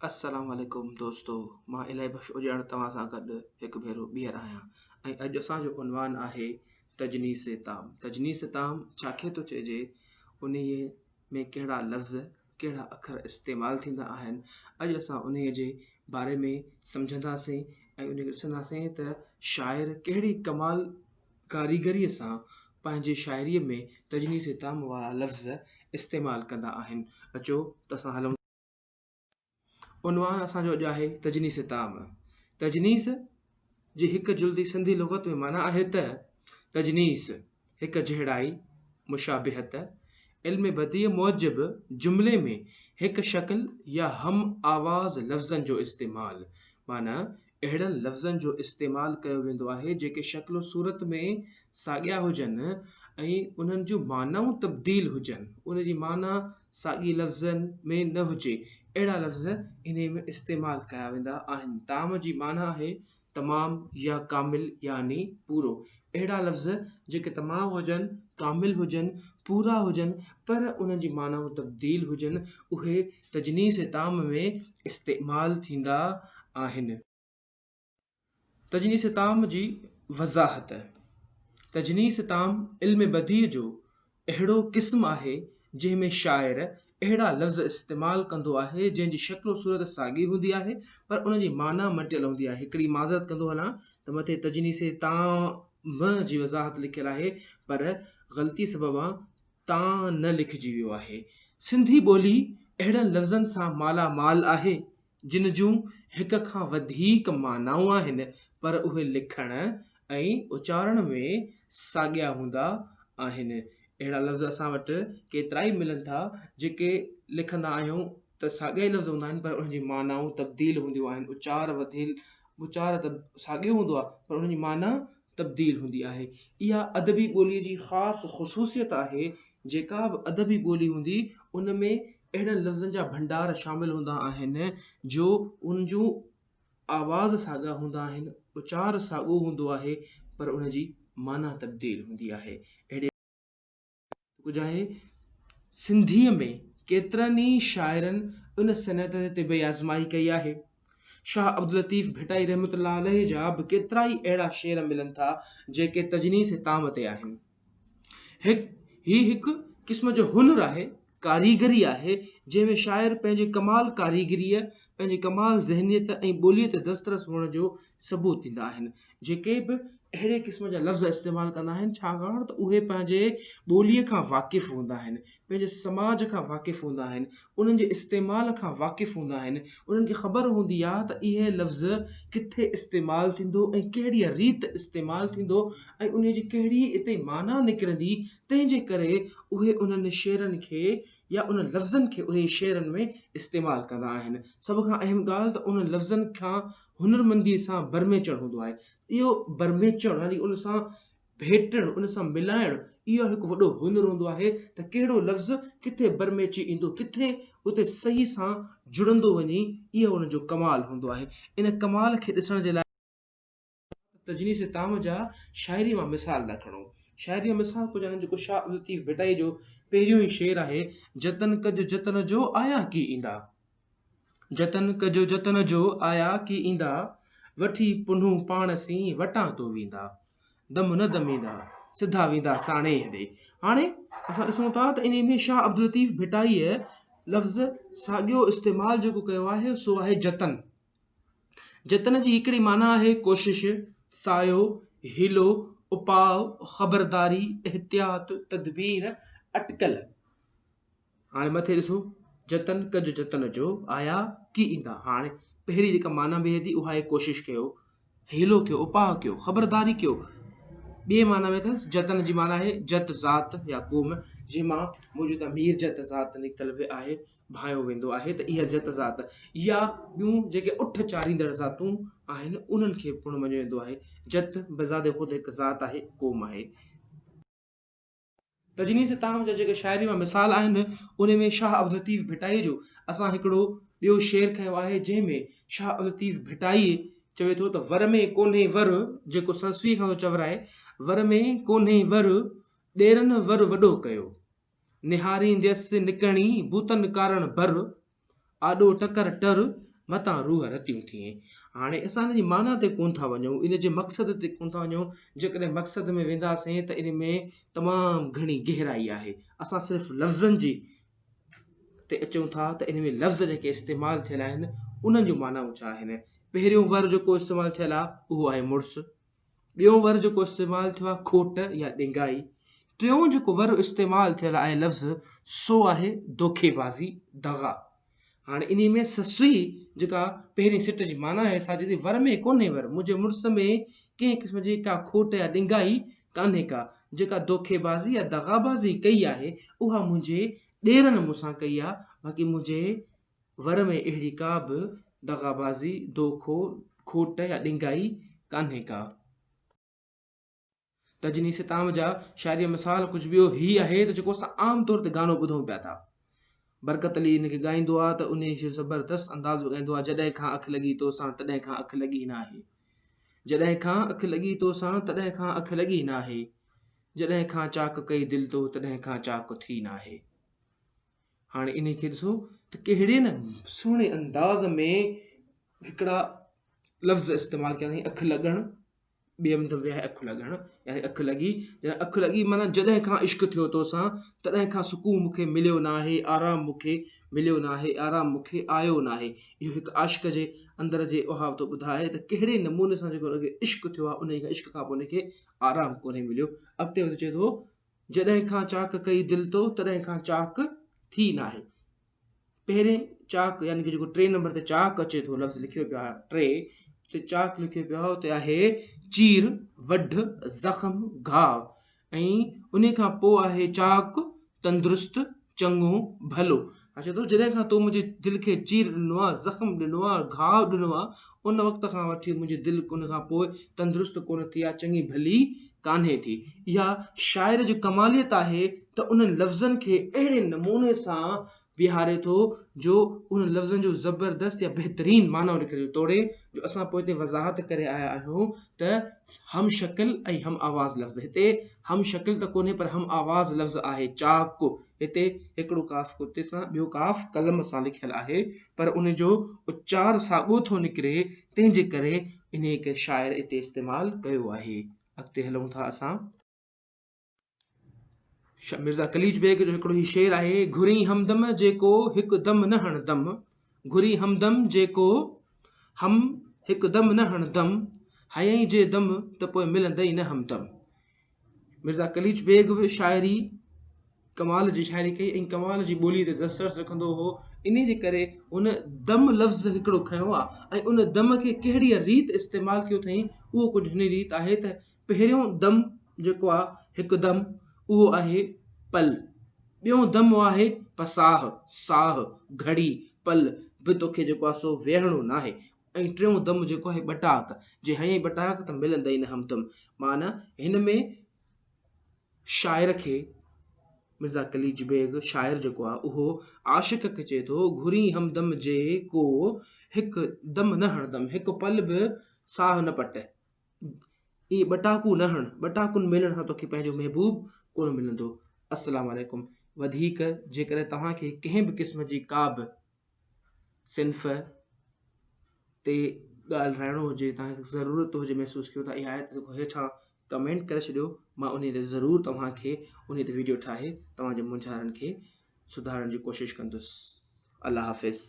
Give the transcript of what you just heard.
السلام عليڪم دوستو مان الهي بخش اجاڻ توهان سان گڏ هڪ ڀيرو ٻيهر آهيان ۽ اڄ اسان جو عنوان آهي تجنيس تام تجنيس تام ڇا کي ٿو چئجي انهي ۾ ڪهڙا لفظ ڪهڙا اکر استعمال ٿيندا آهن اڄ اسان انهي جي باري ۾ سمجهنداسين ۽ ان کي ڏسنداسين ته شاعر ڪهڙي ڪمال ڪاريگريء سان پنهنجي شاعريء ۾ تجنيس تام وارا لفظ استعمال ڪندا آهن. اچو ته اسان هلون ٿا. عنوان اسان جو اڄ آهي تجنيس تام. تجنيس جي هڪ جلدي سنڌي لغت ۾ معنيٰ آهي ته، تجنيس، هڪ جهڙائي، مشابهت، علم بديع موجب جملي ۾ هڪ شڪل يا هم آواز لفظن جو استعمال، معنيٰ اهڙن لفظن جو استعمال ڪيو ويندو آهي جيڪي شڪل و صورت ۾ ساڳيا هجن ۽ انهن جون معنائون تبديل هجن ان جي معنيٰ ساڳي لفظن ۾ نه هجي اهڙا لفظ انهيء ۾ استعمال ڪيا ويندا آهن تام جي معنيٰ آهي تمام يا ڪامل يعني پورو اهڙا لفظ جيڪي تمام هجن ڪامل هجن پورا هجن پر انهن جي معنائون تبديل هجن اهي تجنيسي طعام ۾ استعمال ٿيندا آهن. تجنيسي طعام جي وضاحت، تجنيسي طعام علم بديع جو اهڙو قسم آهي جنهن ۾ شاعر اهڙا لفظ استعمال ڪندو آهي جنهن جي شڪل و صورت ساڳي هوندي آهي پر ان جي معنيٰ مٽيل هوندي آهي هڪڙي معذرت ڪندو هلان ته مٿي تجنيسي طعام جي وضاحت لکيل آهي پر غلطي سببان تان نه لکجي ويو آهي. سنڌي ٻولي اهڙن لفظن سان مالا مال آهي، جن جون هڪ کان وڌيڪ معنائون آهن، پر اهي لکڻ ۽ اچارڻ ۾ ساڳيا هوندا آهن. اهڙا لفظ اسان وٽ ڪيترائي ملن ٿا، جيڪي لکندا آهيون ته ساڳيا ئي لفظ هوندا آهن، پر انهن جي معنائون تبديل هونديون آهن. اچار وڌيل اچار ته ساڳيو هوندو آهي، پر انهن جي معنيٰ تبديل هوندي آهي. اها ادبي ٻوليء جي خاص خصوصيت آهي. جيڪا به ادبي ٻولي هوندي، ان ۾ اهڙن لفظن جا ڀنڊار شامل هوندا آهن، جو ان جون آواز ساڳا هوندا آهن، اچار ساڳو هوندو آهي، پر ان جي معنيٰ تبديل هوندي آهي. اهڙي. ڪجهه آهي. سنڌيء ۾ ڪيترن ئي شاعرن ان صنعت تي به آزمائي ڪئي آهي. شاهه عبداللطيف ڀٽائي رحمة الله عليه جا به ڪيترائي اهڙا شعر ملن ٿا، جيڪي تجنيس طعام تي آهن. هي هڪ قسم جو هنر آهي. ڪاريگري آهي، جنهن ۾ شاعر پنهنجي ڪمال ڪاريگريء، پنهنجي ڪمال ذهنيت ۽ ٻوليء تي دسترس هئڻ جو ثبوت ڏيندا آهن. جيڪي به اهڙي قسم جا لفظ استعمال ڪندا آهن، ڇاڪاڻ ته اهي پنهنجي ٻوليء کان واقف هوندا آهن، پنهنجي سماج کان واقف هوندا آهن، انهن جي استعمال کان واقف هوندا آهن، انهن کي خبر هوندي آهي ته اهي لفظ ڪٿي استعمال ٿيندو ۽ ڪهڙيء ريت استعمال ٿيندو ۽ انهيء جي ڪهڙي اتي معنيٰ نڪرندي تنهن جي ڪري اهي انهن شعرن کي يا انهن لفظن کي انهن شعرن ۾ استعمال ڪندا آهن. سڀ کان اهم ڳالهه ته انهن لفظن کان هنرمنديء سان برميچڻ هوندو آهي. اهو برميچڻ يعني ان سان ڀيٽڻ، ان سان ملائڻ، اهو هڪ وڏو هنر هوندو آهي ته ڪهڙو لفظ ڪٿي برميچي ايندو، ڪٿي اتي صحيح سان جڙندو وڃي، اهو ان جو ڪمال هوندو آهي. ان ڪمال کي ڏسڻ جي لاء. ته تجنيس طعام جا شاعريء مان مثال ٿا کڻو. شاعريء مان مثال ڪجهه آهن جيڪو شاهه عبداللطيف ڀٽائيء جو پهريون ئي شعر آهي، جتن ڪجو جتن جو آيا ڪي ايندا. جتن ڪجو جتن جو آيا ڪي ايندا، وٺي پنهون پاڻ سين وٽان تو ويندا. دم نه دميندا، سڌا ويندا ساڻيهه ڏي. هاڻي اسان ڏسون ٿا ته انهيء ۾ شاهه عبداللطيف ڀٽائيء لفظ ساڳيو استعمال جيڪو ڪيو آهي سو آهي جتن. جتن جي هڪڙي معنيٰ آهي ڪوشش، سعيو، حيلو، اپاء، خبرداري، احتياط، تدبير، اٽڪل. هاڻي مٿي ڏسو، جتن ڪج جتن جو، آيا ڪي ايندا. هاڻي پهرين جيڪا معنيٰ بيهي ٿي اها آهي ڪوشش ڪيو. حيلو ڪيو، اپاهه ڪيو، خبرداري ڪيو ٻيء معنيٰ ۾ اٿس. جتن جي معنيٰ آهي جت ذات يا قوم جنهن مان موجوده مير جت ذات نڪتل به آهي، ڀانئيو ويندو آهي ته اها جت ذات يا ٻيون جيڪي اٺ چاريندڙ ذاتون آهن انهن کي پڻ مڃيو ويندو آهي. جت بذات خود هڪ ذات آهي، قوم آهي. تجنيد ستام جا جيڪي شاعري مان مثال آهن، انهي ۾ شاهه عبداللطيف ڀٽائي جو اسان هڪڙو ٻيو شعر کنيو آهي، جنهن ۾ شاهه عبداللطيف ڀٽائي چوي ٿو ته ور ۾ ڪونهي ور، جيڪو سنسويء کان ٿو چورائي، ور ۾ ڪونهي ور، ڏيرن ور وڏو ڪيو. نهارينديس نڪڻي، بوتن ڪارڻ بر، آڏو ٽڪر ٽر، متان روح رتيون ٿئين. هاڻي اسان ان جي معنيٰ تي ڪونه ٿا وڃون، ان جي مقصد تي ڪونه ٿا وڃون، جيڪڏهن مقصد ۾ وينداسين ته ان ۾ تمام گهڻي گهرائي آهي. اسان صرف لفظن جي تي اچون ٿا ته ان ۾ لفظ جيڪي استعمال ٿيل آهن، انهن جون معنائون ڇا آهن؟ پهريون ور جيڪو استعمال ٿيل آهي، اهو آهي مڙس. ٻيو ور جيڪو استعمال ٿيو آهي کوٽ يا ڏنگائي. ٽيون جيڪو ور استعمال ٿيل آهي لفظ سو آهي دوکي بازي، دغا. هاڻي انهي ۾ سسئي جيڪا پهرين سٽ جي معنيٰ آهي سا جدي ور ۾ ڪونهي ور منهنجي مڙس ۾ ڪنهن قسم جي ڪا کوٽ يا ڏنگائي ڪانهي ڪا جيڪا دوکي بازي يا دغا بازي ڪئي آهي اها منهنجي ڏيرن مون سان ڪئي آهي باقي منهنجي ور ۾ اهڙي ڪا به دغابازي، دوکو، کوٽ يا ڏنگائي ڪانهي ڪا. تجني ستام جا شاعري جو مثال ڪجهه ٻيو هي آهي ته جيڪو اسان عام طور تي گانو ٻڌون پيا ٿا. برڪت علي ان کي ڳائيندو آهي ته انهيء کي زبردست انداز ۾ ڳائيندو آهي جڏهن کان اک لڳي تو سان تڏهن کان اک لڳي ناهي. جڏهن کان اک لڳي تو سان تڏهن کان اک لڳي ناهي. جڏهن کان چاڪ ڪئي دل تو تڏهن کان چاڪ ٿي ناهي. هاڻي انهي کي ڏسو ته ڪهڙي نه سهڻي انداز ۾ هڪڙا لفظ استعمال ڪيا اٿئي اک لڳڻ ٻي هنڌ ويا اک لڳڻ يعني اک لڳي يعني اک لڳي معنيٰ جڏهن کان عشق ٿيو توسان تڏهن کان سڪون مون کي مليو نه آهي آرام مون کي مليو نه آهي آرام مون کي آيو نه آهي اهو هڪ عاشق جي اندر جي اها ٿو ٻڌائي ته ڪهڙي نموني سان جيڪو عشق ٿيو آهي ان کي عشق کان پوء ان کي آرام ڪونهي مليو اڳتي وڌي چئي ٿو جڏهن کان چاڪ ڪئي دل تو تڏهن کان چاڪ ٿي ناهي پهرين چاڪ يعني جيڪو ٽي نمبر تي چاڪ اچي ٿو لفظ لکيو پيو آهي ٽي اتي چاڪ لکيو پيو آهي اتي آهي چير وڍ زخم گهاء ۽ ان کان پوء آهي چاڪ تندرست چڱو ڀلو اچي ٿو جڏهن کان تو منهنجي دل کي چير ڏنو آ زخم ڏنو آ گهاء ڏنو آ ان وقت کان وٺي منهنجي دل ان کان پوء تندرست ڪونه ٿي آ چڱي ڀلي ڪانهي ٿي اها شاعر جي ڪماليت آهي ته انهن لفظن کي اهڙي نموني سان ويهاري ٿو جو انهن لفظن جو زبردست يا بهترين معنو نڪري ٿو توڙي جو اسان پوئتي وضاحت ڪري آيا آهيون ته هم شڪل ۽ هم آواز لفظ هتي هم شڪل ته ڪونهي پر هم آواز لفظ آهي چاق هتي هڪڙو ڪاف ڪتي سان ٻيو ڪاف قلم سان لکيل آهي پر ان جو اچار ساڳو ٿو نڪري تنهن جي ڪري انهيء کي شاعر اتي استعمال ڪيو آهي اڳتي هلون ٿا اسان. مرزا قليچ بيگ جو هڪڙو هي شعر آهي گهرين همدم جيڪو هڪ دم نه هڻ دم گهرين همدم جيڪو هم هڪ دم نه هڻ دم هيئن جي دم ته پوء ملندئي نه همدم مرزا قليچ بيگ به شاعري ڪمال جي شاعري ڪئي ۽ ڪمال جي ٻولي تي دسترس رکندو هو ان جي ڪري هن دم لفظ هڪڙو کنيو آهي ۽ ان دم کي ڪهڙي ريت استعمال ڪيو اٿئي اهو ڪجهه هن ريت آهي ته پهريون دم جيڪو آ هڪ دم اهو آهي پل، ٻيون دم اهو آهي پساهه، ساهه، گهڙي، پل به توکي جيڪو آ سو ويهڻو ناهي ۽ ٽيون دم جيڪو آهي ٻٽاڪ، جي هنئين ٻٽاڪ ته ملندئي نه همدم. معنيٰ هن ۾ شاعر کي مرزا قليچ بيگ شاعر جيڪو آ اهو عاشق کي چئي ٿو گهرين همدم جي ڪو هڪ دم نه هڻدم، هڪ پل به ساهه نه پٽ. اي ٻٽاڪو نه هڻ ٻٽاڪن ميلن سان توکي پنهنجو محبوب ڪونه ملندو السلام عليڪم وڌيڪ جيڪڏهن توهان کي ڪنهن به قسم جي ڪا به صنف تي ڳالهه رائڻو هجي توهان کي ضرورت هجي محسوس ڪيو ته اها آيت هيٺان ڪمينٽ ڪري ڇڏيو مان ان تي ضرور توهان کي ان تي ويڊيو ٺاهي توهان جي مونجهارن کي سڌارڻ جي ڪوشش ڪندس الله حافظ